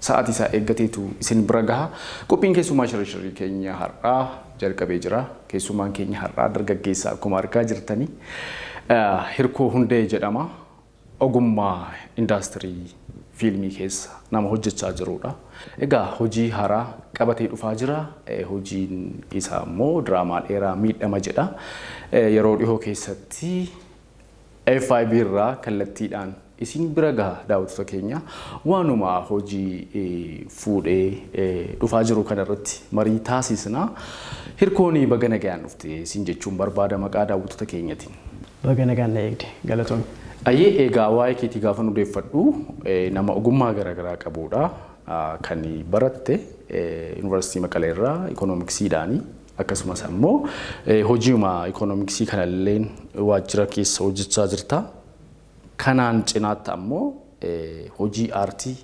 Sa'aatii isaa eeggateetu isin bira gaha. Qophiin keessummaa shirri shirrii keenya har'aa jalqabee jira. Keessummaan keenya har'aa dargaggeessa akkuma argaa jirtani. Hirkoo Hundee jedhama. Ogummaa indaastirii fiilmii keessa nama hojjechaa jirudha. Egaa hojii haaraa qabatee dhufaa jira. Hojiin isaa immoo diraamaa dheeraa miidhama jedha. Yeroo dhihoo keessatti FIB irraa kallattiidhaan isin bira gaha daawwattoota keenya waanuma hojii fuudhee dhufaa jiru kanarratti marii taasisna. Hirkoonii baga nagayaan dhufte siin jechuun barbaada maqaa daawwattoota keenyatiin. Baga nagaan na eegde galatoomi. Ayyee egaa waa'ee keetii gaafa nu deeffadhu nama ogummaa garaagaraa qabuudha kan baratte yuunivarsiitii Maqalee irraa ikoonomiksiidhaani. Akkasumas ammoo hojiuma ikoonomiksii kanalleen waajjira keessa hojjechaa jirta. Kanaan cinaatti ammoo hojii aartii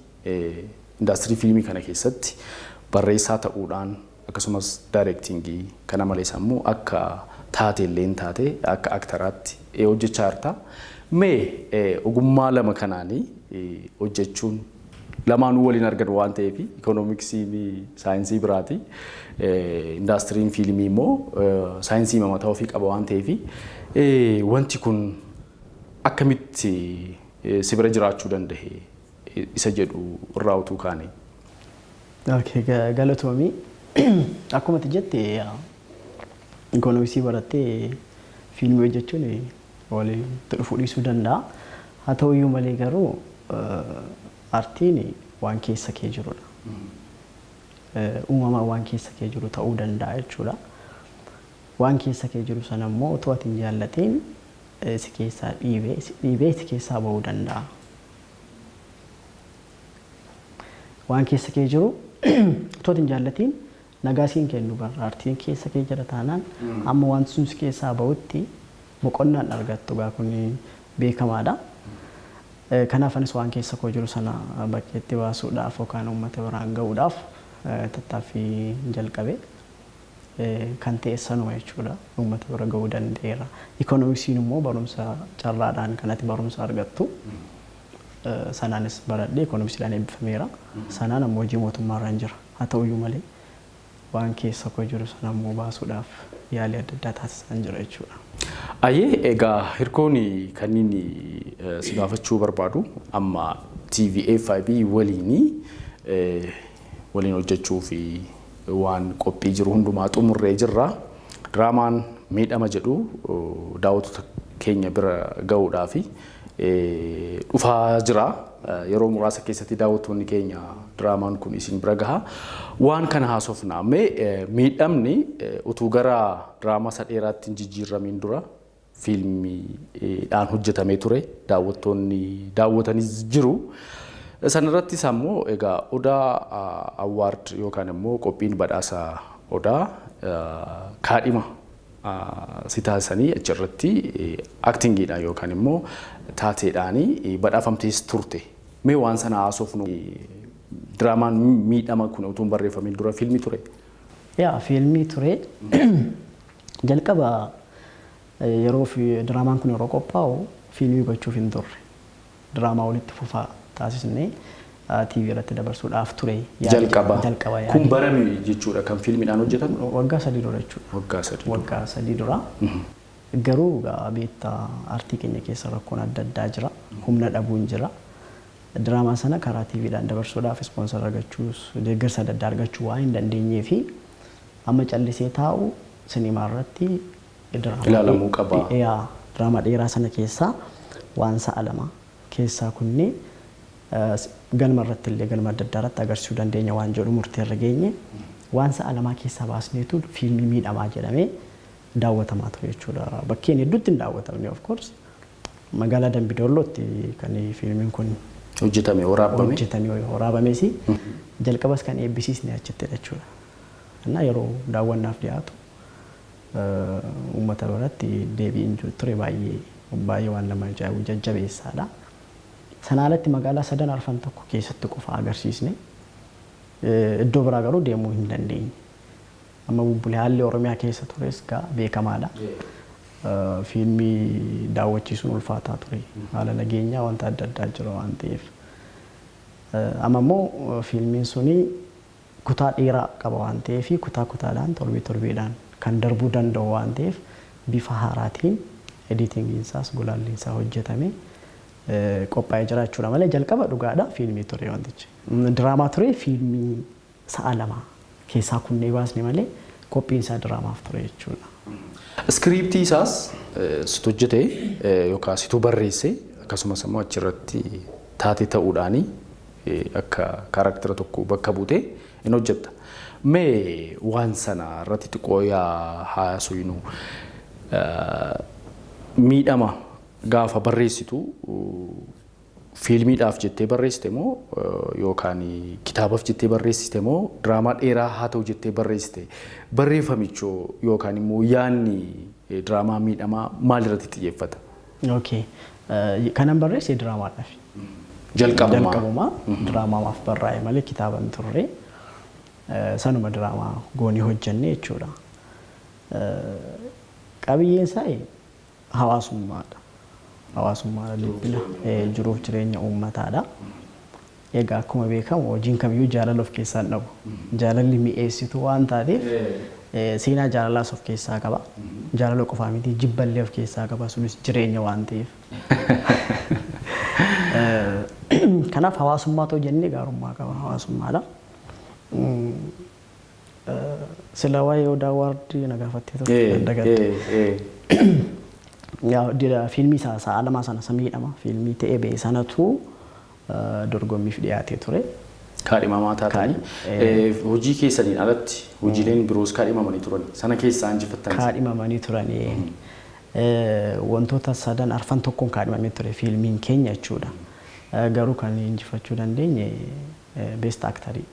indaastirii fiilmii kana keessatti barreessaa ta'uudhaan akkasumas daayireektiingii kana malees ammoo akka taateelleen taate akka aktaraatti hojjechaa jirta. Mee ogummaa lama kanaanii hojjechuun Lamaanuu waliin argan waan ta'eef ikoonomiksiin saayinsii biraati. Indaastiriin fiilmii immoo saayinsii mataa ofii qaba waan ta'eef wanti kun akkamitti si bira jiraachuu danda'e isa jedhu irraa utuu kaane. Okay, ga- galatoomi. Akkuma ati jette ikoonomiksii barattee fiilmii hojjechuun walitti dhufuu dhiisuu danda'a. Haa ta'u iyyuu malee garuu artiin waan keessa kee jirudha. Uumamaan waan keessa kee jiru ta'uu danda'a jechuudha. Waan keessa kee jiru sana immoo otoo ati hin jaallatiin si keessaa dhiibee si dhiibee si keessaa ba'uu danda'a. Waan keessa kee jiru otoo ati hin jaallatiin Nagaa siin kennu bar aartiin keessa kee jira taanaan hamma wanti sun si keessaa bahutti boqonnaa hin argattu egaa kun beekamaadha. Kanaaf anis waan keessa koo jiru sana bakkeetti baasuudhaaf yookaan uummata biraan ga'uudhaaf tattaaffii jalqabe. Kan ta'es sanuma jechuudha. Uummata bira ga'uu danda'eera. Ikoonomiksiin immoo barumsa carraadhaan kan ati barumsa argattu sanaanis baradhee ikoonomisiidhaan eebbifameera. Sanaan amma hojii mootummaarran jira. Haa ta'uyyuu malee, waan keessa koo jiru sana immoo baasuudhaaf yaalii adda addaa taasisaan jira jechuudha. Ayyee egaa hirkoon kanniin si gaafachuu barbaadu amma TV FIB waliin waliin hojjechuu fi waan qophii jiru hundumaa xumurree jirra. Diraamaan miidhama jedhu daawwattoota keenya bira ga'uudhaa fi dhufaa jira. Yeroo muraasa keessatti daawwattoonni keenya diraamaan kun isin bira gaha. Waan kana haasofna. Mee miidhamni utuu gara diraamaa isa dheeraatti hin jijjiirramiin dura fiilmiidhaan hojjetamee ture. Daawwattoonni daawwatanis jiru. Sanarrattis ammoo egaa Odaa Awwaard yookaan immoo qophiin badhaasa Odaa kaadhima si taasisanii achi irratti aktingiidhaan yookaan immoo taateedhaan badhaafamtees turte. Mee waan sana haasofnu diraamaan miidhama kun utuu hin barreeffamiin dura fiilmii ture? Yaa fiilmii ture. Jalqaba yeroo diraamaan kun yeroo qophaa'u fiilmii gochuuf hin turre. Diraamaa walitti fufaa taasisnee TV irratti dabarsuu dhaaf ture yaadi jedha. Jalqaba. Kun bara meeqa jechuudha kan fiilmiidhaan hojjetame? Waggaa sadii dura jechuudha. Waggaa sadii dura. Waggaa sadii dura. Garuu egaa beekta artii keenya keessa rakkoon adda addaa jira. Humna dhabuun jira. Diraamaa sana karaa TVdhaan dabarsuudhaaf ispoonsar argachuus deeggarsa adda addaa argachuu waan hin dandeenyee fi amma callisee taa'u sinimaa irratti Diraamaa Ilaalamuu qaba. dhi- yaa, diraamaa dheeraa sana keessaa waan sa'a lama keessaa kunni eh, s- galma irratti illee galma adda addaa irratti agarsiisuu dandeenya waan jedhu murtee irra geenye waan sa'a lamaa keessaa baasneetu fiilmii miidhamaa jedhamee daawwatamaa ture jechuudha. Bakkeen hedduutti hin daawwatamne of course. Magaalaa Dambidollootti kan fiilmiin kun Hojjetame waraabame. hojjetame waraabames jalqabas kan eebbisiisne achittidha jechuudha. Innaa yeroo daawwannaaf dhiyaatu Uummata biratti deebiin ture baay'ee baay'ee waan nama ajaa'ibu jajjabeessaadha. Sanaa alatti magaalaa sadan arfan tokko keessatti qofa agarsiisne. Iddoo biraa garuu deemuu hin dandeenye. Amma bubbule haalli Oromiyaa keessa tures gaa beekamaadha. Fiilmii daawwachiisuun ulfaataa ture. Haala nageenyaa wanta adda addaa jira waan ta'eef. Amma immoo fiilmiin suni kutaa dheeraa qaba waan ta'eef kutaa kutaadhaan torbee torbeedhaan kan darbuu danda'u waan ta'eef bifa haaraatiin editingiin isaas gulaalliin isaa hojjetamee qophaa'ee jira jechuudha malee jalqaba dhugaadha fiilmii ture wantichi. Diraamaa ture fiilmii sa'a lama keessaa kunnee baasne malee qophiin isaa diraamaaf ture jechuudha. Iskiriiptii isaas situ hojjete yookaan situ barreesse akkasumas immoo achirratti taatee ta'uudhaani akka karaktera tokko bakka buute in hojjetta. Mee waan sana irratti xiqqoo yaa haasuynu. Miidhama gaafa barreessitu fiilmiidhaaf jettee barreessite moo yookaan kitaabaf jettee barreessite moo diraamaa dheeraa haa ta'u jettee barreessite barreeffamichoo yookaan immoo yaanni diraamaa miidhamaa maalirratti xiyyeeffata? Ok. Kanan barreesse diraamaadhaaf. Jalqabumaa. Jalqabumaa diraamaamaaf barraa'e malee kitaaba hin turre. Sanuma diraamaa goonee hojjenne jechuudha. Qabiyyeen isaa hawaasummaadha. Hawaasummaadha dubbina. Jiruuf jireenya uummataadha. Egaa akkuma beekamu hojiin kamiyyuu jaalala of keessaa hin dhabu. Jaalalli mi'eessituu waan taateef seenaa jaalalaas of keessaa qaba. Jaalala qofaa miti jibba illee of keessaa qaba sunis jireenya waan ta'eef. Kanaaf hawaasummaa too jennee gaarummaa qaba hawaasummaadha. Sila waa'ee Odaa Waard na gaafattee turte nan dagadhe. Yaa dira fiilmii isaa sa'a lamaa sana samiidhama fiilmii ta'ee ba'e sanatu dorgommiif dhiyaatee ture. Kaadhimamaa taatanii. Kaadhi- Hojii keessaniin alatti hojiileen biroos kaadhimamanii turani. Sana keessaa injifattan isa. kaadhimamanii turani. Eh, Wantoota sadan arfan tokkoon kaadhimamee ture fiilmiin keenya jechuudha. Eh, Garuu kan injifachuu dandeenye eh, beest aktarii.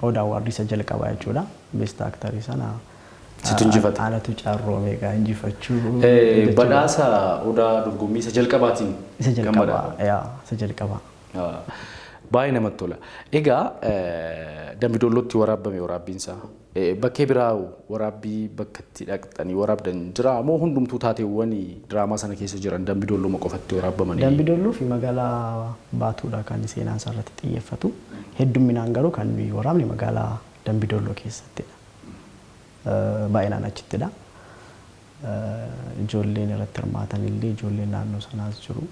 Oda Award isa jalqabaa jechuudha. Best Actor sana Situ injifate. anatu carroome egaa injifachuu Eh, jechuudha. Badhaasa odaa dorgommii isa jalqabaatiin Isa kan jalqabaa, badhaafame. yaa, isa jalqabaa. Ah, Baay'ee namatti tola. Egaa eh, Dambi Doollootti waraabbame waraabbiinsaa. Bakkee biraa waraabbii bakka itti dhaqxanii waraabdan jiraa moo hundumtuu taateewwan diraamaa sana keessa jiran Dambi Doolloma qofatti waraabbamanii? Dambi Doolloo fi magaalaa Baatuudha kan seenaan isaa irratti xiyyeeffatu. Heddumminaan garuu kan nuyi waraabne magaalaa Dambi Doolloo keessattidha. Baay'inaan achittidha. Ijoolleen irratti hirmaatan illee ijoolleen naannoo sanaas jiru.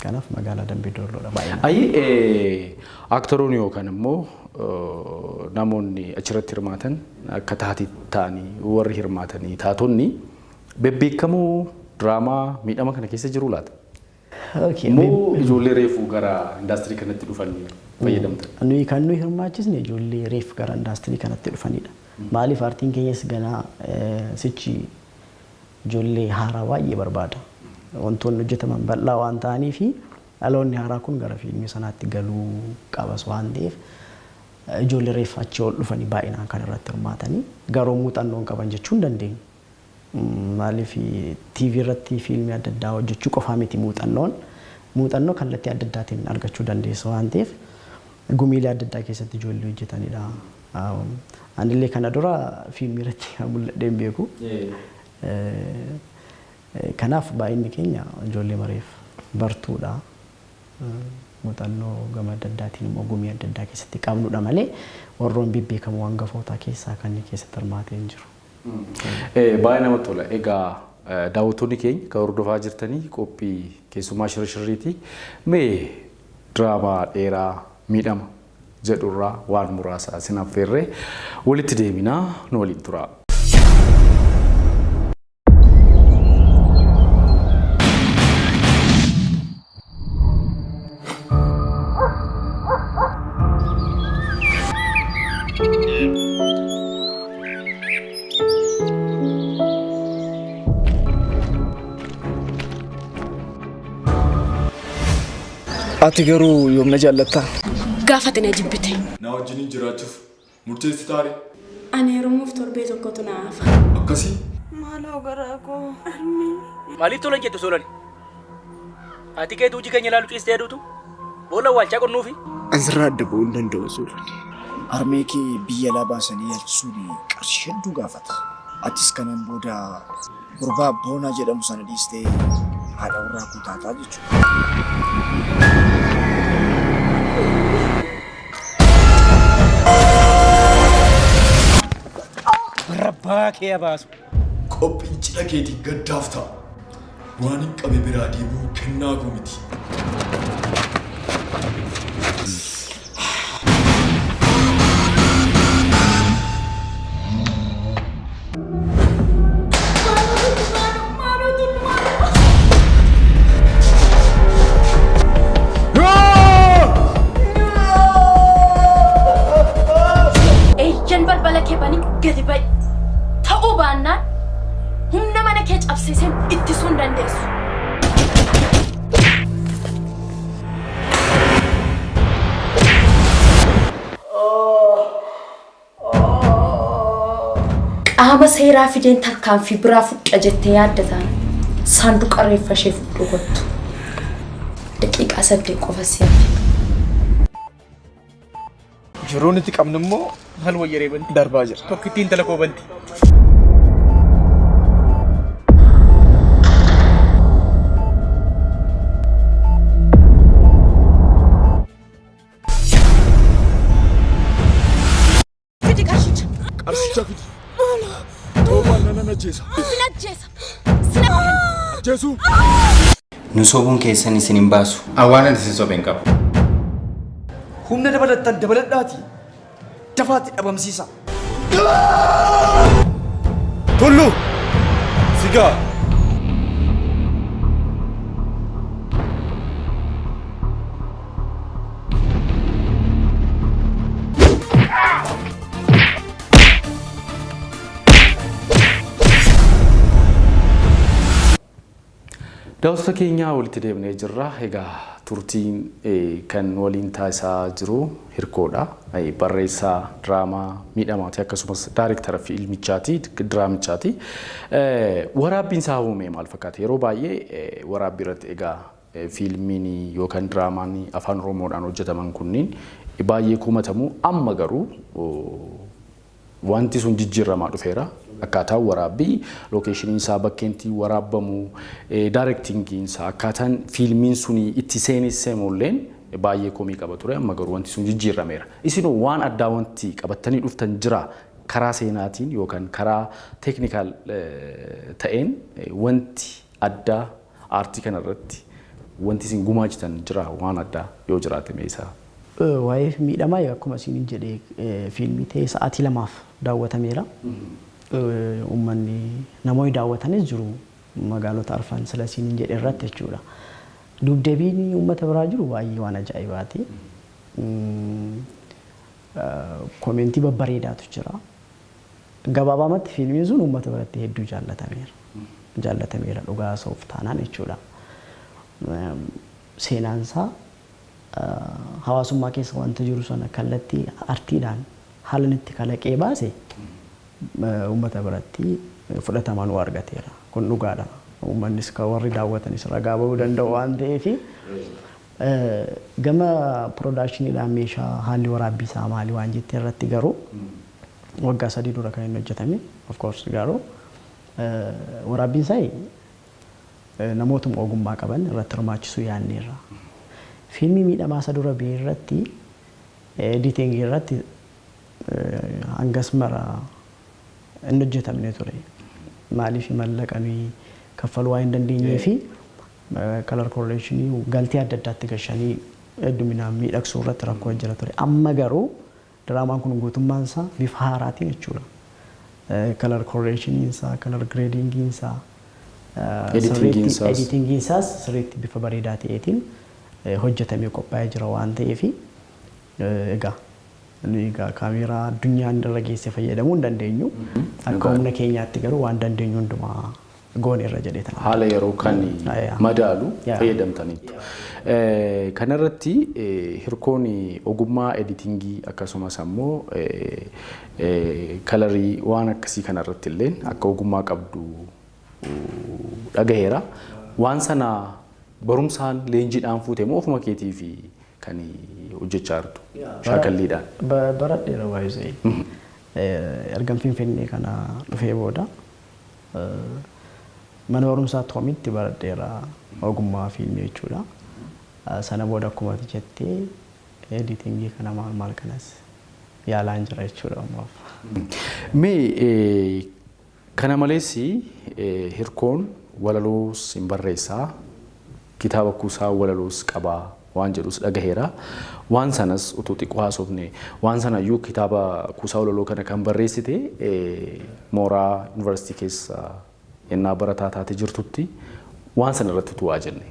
Kanaaf magaalaa Dambii Doolloodha baay'inaan. Ayi aktoroonni yookaan immoo namoonni achirratti hirmaatan akka taati ta'anii warri hirmaatanii taatonni bebbeekamoo diraamaa miidhama kana keessa jiru laata? Moo ijoollee reefu gara indaastirii kanatti dhufan fayyadamtan? Nuyi kan nuyi hirmaachisne ijoollee reef gara indaastirii kanatti dhufanidha. Maaliif aartiin keenyas ganaa sichi ijoollee haaraa baay'ee barbaada. Wantoonni hojjetaman bal'aa waan ta'aniifi dhaloonni haaraa kun gara fiilmii sanaatti galuu qabas waan ta'eef ijoollee reeffa achii ol dhufanii baay'inaan kan irratti hirmaatanii garuu muuxannoo hin qaban jechuu hin dandeenyu. Maaliif TV irratti fiilmii adda addaa hojjechuu qofaa miti muuxannoon. Muuxannoo kallattii adda addaatiin argachuu dandeessa waan ta'eef gumiilee adda addaa keessatti ijoollee hojjetanidha. Anillee kana dura fiilmii irratti mul'adhee hin beeku. Kanaaf baay'inni keenya ijoollee mareef bartuudha. Muuxannoo gama adda addaatiin immoo gumii adda addaa keessatti qabnudha malee warroon bebbeekamoo hangafootaa keessaa kan keessatti hirmaatee hin jiru. Baay'ee namatti tola. Egaa daawwattoonni keenya kan hordofaa jirtanii qophii keessumaa shirashirriiti. Mee Diraamaa dheeraa Miidhama jedhu irraa waan muraasa isin affeerre. Walitti deebina nu waliin turaa. Ati garuu yoom na jaallattaa? Gaafate na jibbite. Na wajjiniin jiraachuuf murteessitaare? Ani heerumuuf torbee tokkotu na hafa. Akkasii? Maaloo garaa koo harmee. Maaliif tola hin jettu Soolani? Haati keetu hojii keenya ilaalu ciistee aduutu boolla awwaalchaa qonnuufi. An sirraa adda ba'uu hin danda'u Soolani. Harmee kee biyya alaa baasanii yaalchisuun qarshii hedduu gaafata. Atis kanaan booda. Gurbaa Boonaa jedhamu sana dhiistee haadha warraa koo taataa jechuudha. Rabbaa kee abaasu. Qophiin cidha keetiin gaddaaf ta'a. Waan hin qabe biraa deemuun kennaa koo miti. Eeyyan balbala kee banii gadi ba'i. Ta'uu baannaan humna mana kee cabsiiseen ittisuu hin dandeessu. Qaama seeraa fideen tarkaanfii biraa fudhadha jettee yaadda taana. Saanduqa reeffa ishee fudhuu kottu. Daqiiqaa saddeet qofa si'a. Jiruu nuti qabnu immoo maal wayya reebanti? Darbaa jira. Tokkittii intala koo banti. Fidi qarshicha. Qarshicha fidi. Maalo. Toobaan nana najjeesa. Sin ajjeesa. Sin ajjeesa. Ajjeesuu. Nu sobuun keessan isin hin baasu. An waanan isin sobe hin qabu. Humna dabalattan dabaladhaatii dafaatti dhabamsiisa. Tullu! Sigaa! Daawwattoota keenya walitti deebinee jirra. Egaa turtiin kan nu waliin taasisaa jiru Hirkoodha. Barreessaa diraamaa miidhamaati akkasumas daariktara fiilmichaati diraamichaati. Waraabbiin isaa uumee maal fakkaata? Yeroo baay'ee waraabbii irratti egaa fiilmiin yookaan diraamaan afaan Oromoodhaan hojjetaman kunniin baay'ee komatamu. Amma garuu Wanti sun jijjiirramaa dhufeera. Akkaataan waraabbii, lookeeshiniin isaa, bakkeen itti waraabbamu, daarektiingiin isaa, akkaataan fiilmiin suni itti seenessemu illeen baay'ee komii qaba ture. Amma garuu wanti sun jijjiirrameera. Isinoo waan addaa wanti qabattanii dhuftan jiraa? Karaa seenaatiin yookaan karaa teeknikaal ta'een wanti addaa Aartii kana irratti wanti isin gumaachitan jiraa waan addaa yoo jiraate mee isa. Waa'ee miidhamaa egaa akkuma isiinin jedhe fiilmii ta'ee sa'aatii lamaaf daawwatameera. Uummanni namoonni daawwatanis jiru magaalota arfan sila isiinin jedhe irratti jechuudha. Duubdeebiin uummata biraa jiru baay'ee waan ajaa'ibaati. Komeentii babbareedaatu jira. Gabaabaamatti fiilmiin sun uummata biratti hedduu jaallatameera. Jaallatameera dhugaa haasa'uuf taanaan jechuudha. Seenaan isaa hawaasummaa keessa wanta jiru sana kallattii artiidhaan haala inni itti kalaqee baase uummata biratti fudhatama nuu argateera. Kun dhugaadha. Uummannis kan warri daawwatanis ragaa ba'uu danda'u waan ta'eef gama piroodaakshiniidhaan meeshaa haalli waraabbii isaa maali waan jette irratti garuu Waggaa sadii dura kan inni hojjetame of course garuu waraabbiin isaa namootuma ogummaa qaban irratti hirmaachisuu yaadneerra. Fiilmii miidhamaa isa dura ba'e irratti editing irratti hangas mara hin hojjetamne ture. Maaliif mallaqa nuyi kaffaluu waan hin dandeenyee fi color correction galtee adda addaatti gashanii hedduminaan miidhagsuu irratti rakkoo jira ture. Amma garuu Diraamaan kun guutummaan isaa bifa haaraatiin jechuudha. Color correction isaa, color grading isaa sirriitti, editing isaas sirriitti bifa bareedaa ta'eetiin hojjetamee qophaa'ee jira waan ta'eef egaa nuyi egaa kaameeraa addunyaan irra geesse fayyadamuu hin dandeenyu. Akka humna keenyaatti garuu waan dandeenyu hundumaa goone irra jedhee tan. haala yeroo kan madaalu fayyadamtaniittu. Kana irratti hirkoon ogummaa editingii akkasumas ammoo kalarii waan akkasii kana irratti illeen akka ogummaa qabdu dhagaheera. Waan sana barumsaan leenjiidhaan fuute moo ofuma keetii fi kan hojjechaa jirtu shaakalliidhaan? Baradheera waayizee. Ergan Finfinnee kana dhufee booda Mana barumsaa Toomitti baradheera ogummaa fiilmii jechuudha. Sana booda akkuma ati jette editingii kana maal maal kanas yaalaan jira jechuudha ammaaf. Mee kana malees hirkoon walaloos hin barreessaa? Kitaaba kuusaa walaloos qaba waan jedhus dhagaheera. Waan sanas utuu xiqqoo haasofnee. Waan sana iyyuu kitaaba kuusaa walaloo kana kan barreessite mooraa Yuunivarsiitii keessa ennaa barataa taate jirtutti waan sana irratti utuu waa jennee.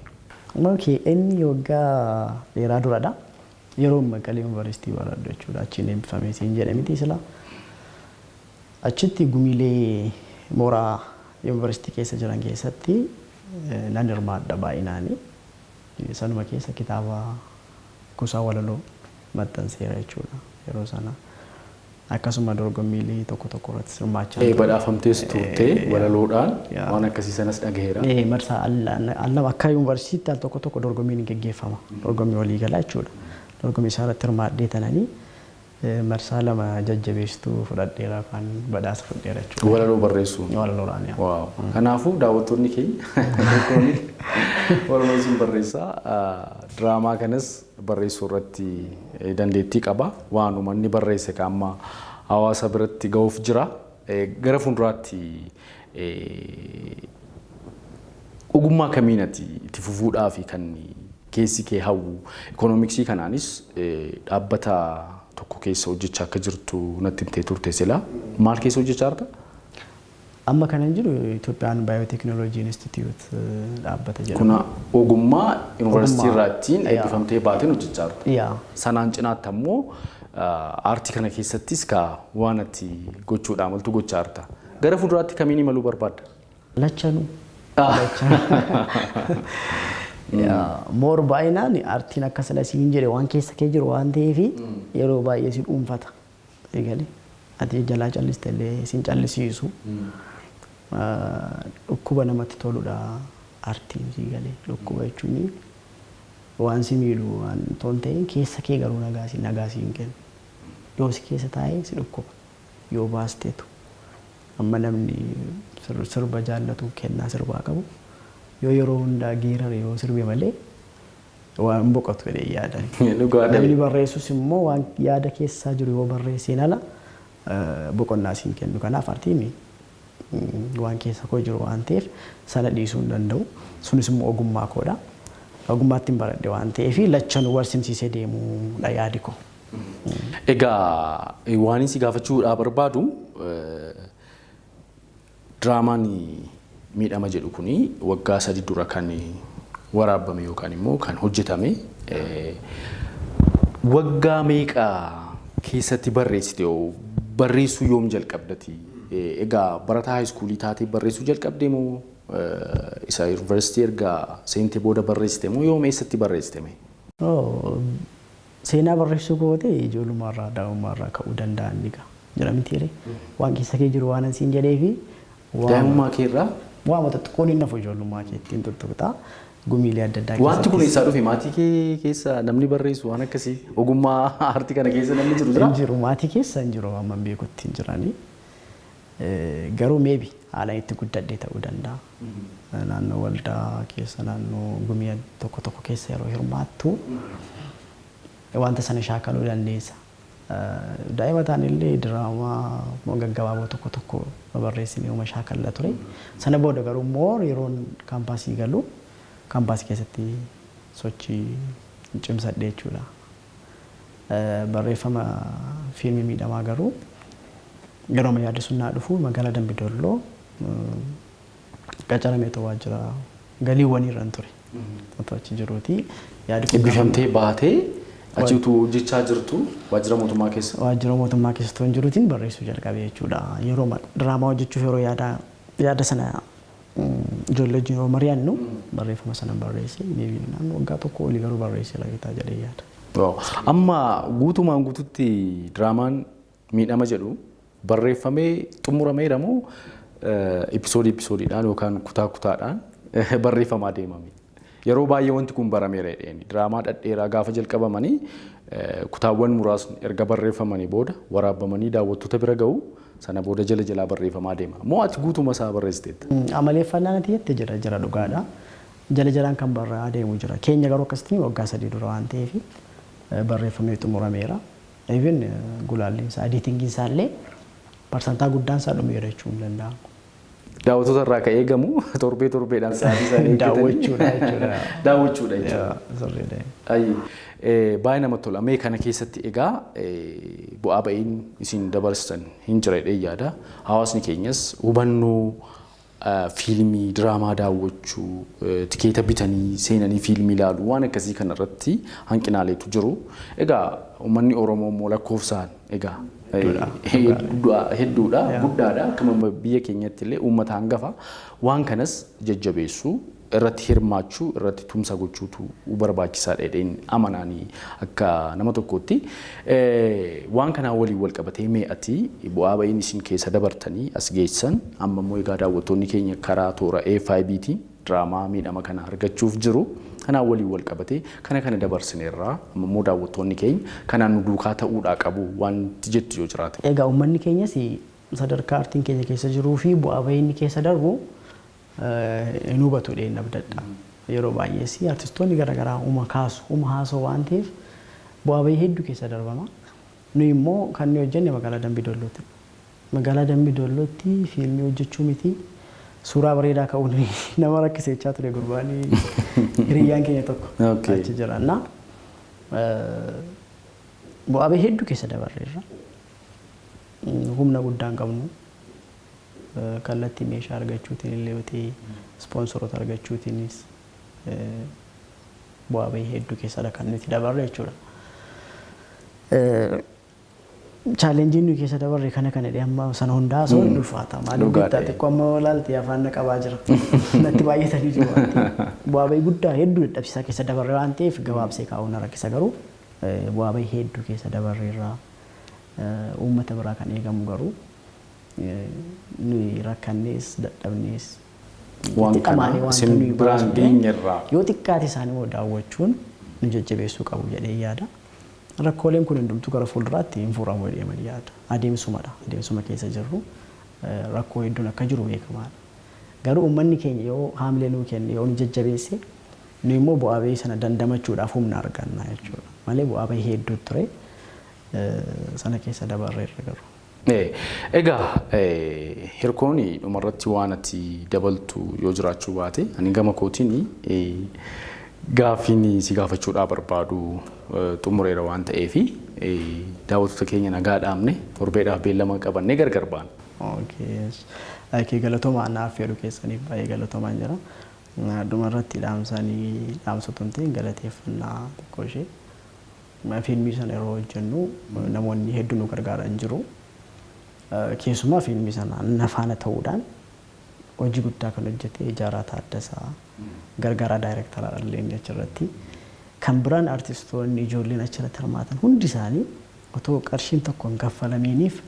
Okay, inni waggaa dheeraa dura dha. Yeroon Maqalee Yuunivarsiitii baradhu jechuu dha. Achiin eebbifame siin jedhe mitii silaa. Achitti gumiilee mooraa Yuunivarsiitii keessa jiran keessatti nan hirmaadha baay'inaani. Sanuma keessa kitaaba kuusaa walaloo maxxanseera jechuudha yeroo sana. Akkasuma dorgommiilee tokko tokko irrattis hirmaachaan ture. Badhaafamtees turte walaloodhaan waan akkasii sanas dhagaheera. Marsaa al lama akka yuunivarsiitiitti al tokko tokko dorgommiin hin geggeeffama. Dorgommii waliigalaa jechuudha. Dorgommii isaarratti hirmaadhee tananii Marsaa lama jajjabeessituu fudhadheera yookaan badhaasa fudheera jechuudha. Walaloo barreessuun. Walaloodhaan yaa. Waaw. Kanaafuu daawwattoonni keenya tokkoon walaloo sun barreessa. Diraamaa kanas barreessuu irratti eh, dandeettii qaba. Waanuma inni barreesse ka amma hawaasa biratti ga'uuf jira. Eh, Gara fuulduraatti eh, ogummaa kamiin ati itti fufuudhaaf kan keessi kee hawwu. Ikoonomiksii kanaanis dhaabbata tokko keessa hojjechaa akka jirtu natti himtee turte silaa. Maal keessa hojjechaa jirta? Amma kanan jiru Itoophiyaan Baayootekinooloojii Inistituut dhaabbata jedhama. Kuna ogummaa yuunivarsiitii Ogummaa. irraattiin Yaa. eebbifamtee baateen hojjechaa jirta. Yaa. Sanaan cinaatti ammoo ah, aartii kana keessattis kaa waan ati gochuudhaa maltu gochaa jirta. Gara fuulduraatti kamiin imaluu barbaadda? Lachanu. Moor baay'inaan artiin akka sila siin jedhe waan keessa kee jiru waan ta'eef yeroo baay'ee si dhuunfata. Eegalee ati jalaa calliste illee siin callisiisu. Dhukkuba namatti toludha artiin sii galee. Dhukkuba jechuun waan si miidhu waan toon ta'een keessa kee garuu nagaa siin kennu. Yoo si keessa taa'ee si dhukkuba. yoo baasteetu amma namni sirba jaallatu kennaa sirbaa qabu yoo yeroo hundaa geerare yoo sirbe malee waa hin boqotu jedhee yaada. Namni barreessus immoo waan yaada keessaa jiru yoo barreesseen ala boqonnaa siin kennu kanaaf artiin waan keessa koo jiru waan ta'eef sana dhiisuu hin danda'u sunis immoo ogummaa koodha. Ogummaattiin baradhe waan ta'eef lachanuu wal simsiisee deemuudha yaadi koo. Egaa waanin si gaafachuudhaa barbaadu diraamaan miidhama jedhu kun waggaa sadi dura kan waraabame yookaan immoo kan hojjetame waggaa meeqa keessatti barreessite hoo barreessuu yoom jalqabdati? Egaa barataa haayiskuulii taatee barreessuu jalqabde moo isa yuunivarsiitii erga seente booda barreessite moo yoom eessatti barreessite mee? Seenaa barreessuu kooti ijoollummaa irraa daa'ummaa irraa ka'uu danda'a inni gaa jira mitiiree waan keessa kee jiru waanan siin jedheefi Daa'imummaa kee irraa? waama xixiqqoon hin hafu ijoollummaa keetti hin tuttuqxaa gumiilee adda addaa Wanti kun keessattis eessaa dhufe maatii kee keessa namni barreessu waan akkasii ogummaa aartii kana keessa namni jiru jira? hin jiru maatii keessa hin jiru amma hin beekutti hin jiranii Eh, garuu meebi haalaan itti guddadhee ta'uu danda'a. Naannoo waldaa keessa, naannoo gumii tokko tokko keessa yeroo hirmaattu wanta sana shaakaluu dandeessa. Daa'ima taanellee diraamaa gaggabaaboo tokko tokko babarreessinee uma shaakalla ture. Sana booda garuu more yeroon kaampaasii galu kaampaasii keessatti sochii cimsadhe jechuudha. Barreeffama Fiilmii Miidhamaa garuu yerooma yaadni sun naa dhufu magaalaa Dambi Dolloo qacaramee otoo waajjira galiiwwanii irran ture. Otoo achi jiruuti yaadi kun Ebbifamtee baatee achi utuu hojjechaa jirtu waajjira mootummaa keessa. waajjira mootummaa keessa otoo hin jiruutiin barreessuu jalqabe jechuudha. Yerooma diraamaa hojjechuuf yeroo yaada yaada sana Ijoollee wajjin yeroo mari'annu barreeffama sanan barreesse maybe naannoo waggaa tokko olii garuu barreesse lageetaa jedhee yaada. Waaw. Amma guutumaan guututti diraamaan miidhama jedhu barreeffamee xumurameera moo episoodii episoodiidhaan yookaan kutaa kutaadhaan barreeffamaa deemame? Yeroo baay'ee wanti kun barameera jedheeni. Diraamaa dhadheeraa gaafa jalqabamanii kutaawwan muraasni erga barreeffamanii booda waraabbamanii daawwattoota bira gahu. Sana booda jala jalaa barreeffamaa deema. Moo ati guutuma isaa barreessiteetta? Amaleeffannaan ati jette jira jira dhugaadha. Jala jalaan kan barraa'aa deemu jira. Keenya garuu akkasitti waggaa sadii dura waan ta'eef barreeffamee xumurameera. Even gulaalliin isaa, ediitingiin isaa illee parsantaa guddaan isaa dhumeera jechuun ni danda'ama. Daawwatoota irraa kan eegamu torbee torbeedhaan sa'aatii isaan eeggatanii Daawwachuudha jechuudha. daawwachuudha jechuudha. Yaa, sirriidha. Ayi, eh, baay'ee namatti tola. Mee kana keessatti egaa eh, bu'aa ba'iin isin dabarsitan hin jira jedhee yaada. Hawaasni keenyas hubannoo eh, fiilmii, diraamaa daawwachuu, eh, tikeeta bitanii seenanii fiilmii ilaaluu waan akkasii kanarratti hanqinaaleetu jiru. Egaa uummanni Oromoo immoo lakkoofsaan Egaa du'a hedduudha, guddaadha. Akkuma biyya keenyatti illee uummata hangafa waan kanas jajjabeessuu, irratti hirmaachuu, irratti tumsa gochuutu barbaachisaadha jedheen amanaani akka nama tokkootti. Waan kanaa waliin wal qabatee mee ati bu'aa ba'iin isin keessa dabartanii as geessan amma immoo egaa daawwattoonni keenya karaa toora AFIBtiin diraamaa miidhama kana argachuuf jiru kanaan waliin wal qabatee kana kana dabarsineerra amma immoo daawwattoonni keenya kanaan nu duukaa ta'uudhaa qabu wanti jettu yoo jiraate. Egaa uummanni keenyas sadarkaa artiin keenya keessa jiruu fi bu'aa bahii inni keessa darbu hin hubatu jedheen abdadha. Yeroo baay'ees artistoonni gara garaa uma kaasu uma haasa'u waan ta'eef bu'aa bahii hedduu keessa darbama. Nuyi immoo kan nuyi hojjenne magaalaa Dambii Dolloottidha. Magaalaa Dambi Dollootti fiilmii hojjechuu miti suuraa bareedaa ka'uun nama rakkisa jechaa ture gurbaan hiriyyaan keenya tokko Okay. achi jira. Na bu'aa bahii hedduu keessa dabarreerra. Humna guddaa hin qabnu. Eh, Kallattii meeshaa argachuutiin illee yoo ta'e ispoonsoroota argachuutiinis eh, bu'aa bahii hedduu keessadha kan nuti dabarre jechuudha. Eh, Challenge nuyi keessa dabarre kana kana jedhee amma sana hundaa osoo hin ulfaata. Maaliif Dhugaa beektaa ta'e. xiqqoo amma yoo ilaalte afaan na qabaa jira. Natti baay'atanii jiru waan ta'eef. Bu'aa bahii guddaa hedduu dadhabsiisaa keessa dabarre waan ta'eef gabaabsee kaa'uun na rakkisa garuu eh, bu'aa bahii hedduu keessa dabarre irraa eh, uummata biraa kan eegamu garuu eh, nuyi rakkannees dadhabnees Waan itti dhamaane kana wanta isin nuyi biraan baasnu ta'e, geenyerraa. yoo xiqqaate isaanii immoo daawwachuun nu jajjabeessuu qabu jedhee yaada. Rakkooleen kun hundumtuu gara fuulduraatti hin furamu jedhee man yaada. Adeemsumadha. Adeemsuma keessa jirru. Rakkoo hedduun akka jiru beekamaadha. Garuu uummanni keenya yoo haamilee nuu kenne, yoo nu jajjabeesse, nuyi immoo bu'aa bahii sana dandamachuudhaaf humna arganna jechuudha. Malee bu'aa bahii hedduu ture. Sana keessa dabarreerra garuu. Egaa hirkoon dhumarratti waan ati dabaltu yoo jiraachuu baate ani gama kootiin gaaffiin si gaafachuudhaa barbaadu xumureera waan ta'eef daawwattoota keenya nagaa dhaamne torbeedhaaf beellama qabannee gargar baana. Okay galatoomaa anaa affeeruu keessaniif baay'ee galatoomaan jira. Dhumarratti dhaamsaan dhaamsotumteen galateeffannaa xiqqoo ishee. Fiilmii sana yeroo hojjennu namoonni heddu nu gargaaran jiru. Keessumaa fiilmii sana na faana ta'uudhaan hojii guddaa kan hojjete Ijaaraa Taaddasaa, gargaaraa daayireektaraa illee inni achirratti. Kan biraan artistoonni ijoolleen achirratti hirmaatan hundi isaanii otoo qarshiin tokko hin kaffalamiiniif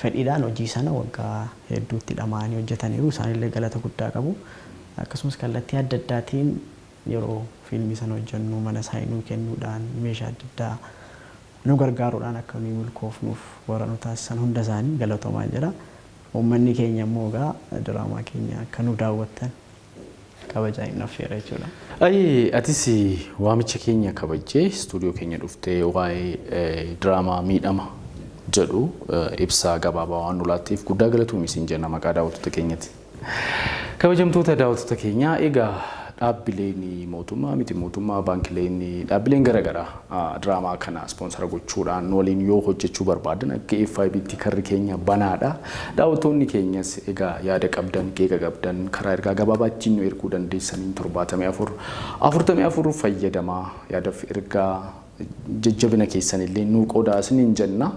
fedhiidhaan hojii sana waggaa hedduutti dhama'anii hojjetaniiru. Isaanillee galata guddaa qabu. Akkasumas kallattii adda addaatiin Yeroo fiilmii sana hojjennu mana saayii nuu kennuudhaan, meeshaa adda addaa nu gargaaruudhaan akka nuyi milkoofnuuf warra nu taasisan hunda isaanii galatoomaan jedha. Uummanni keenya immoo egaa diraamaa keenya akka nu daawwattan kabajaan isin affeera jechuudha. Ayyee atis waamicha keenya kabajjee istuudiyoo keenya dhuftee waa'ee diraamaa miidhama jedhu ibsa gabaabaa waan nu laatteef guddaa galatoomi siin jenna maqaa daawwattoota keenyati. Kabajamtoota daawwattoota keenyaa egaa dhaabbileen mootummaa miti mootummaa baankileen dhaabbileen gara garaa diraamaa kana ispoonsara gochuudhaan nu waliin yoo hojjechuu barbaadan akka FIBtti karri keenya banaadha. Daawwattoonni keenyas egaa yaada qabdan qeeqa qabdan karaa ergaa gabaabaa ittiin nu erguu dandeessaniin 74 44 fayyadamaa yaadaf ergaa jajjabina keessan illee nuu qoodaa isiniin jenna.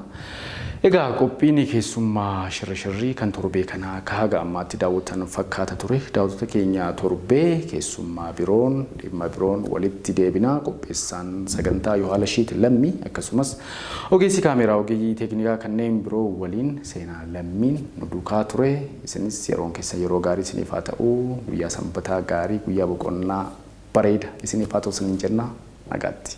Egaa qophiin keessummaa shirri shirrii kan torbee kanaa akka haga ammaatti daawwattan fakkaata ture. Daawwattoota keenya torbee keessummaa biroon dhimma biroon walitti deebina. Qopheessaan sagantaa Yohaalashiit Lammii akkasumas ogeessi kaameeraa ogeeyyii teeknikaa kanneen biroo waliin seenaa lammiin nu duukaa ture. Isinis yeroon keessan yeroo gaarii isiniif haa ta'u. Guyyaa sanbataa gaarii guyyaa boqonnaa Bareeda isiniif haa ta'u isiniin jenna nagaatti.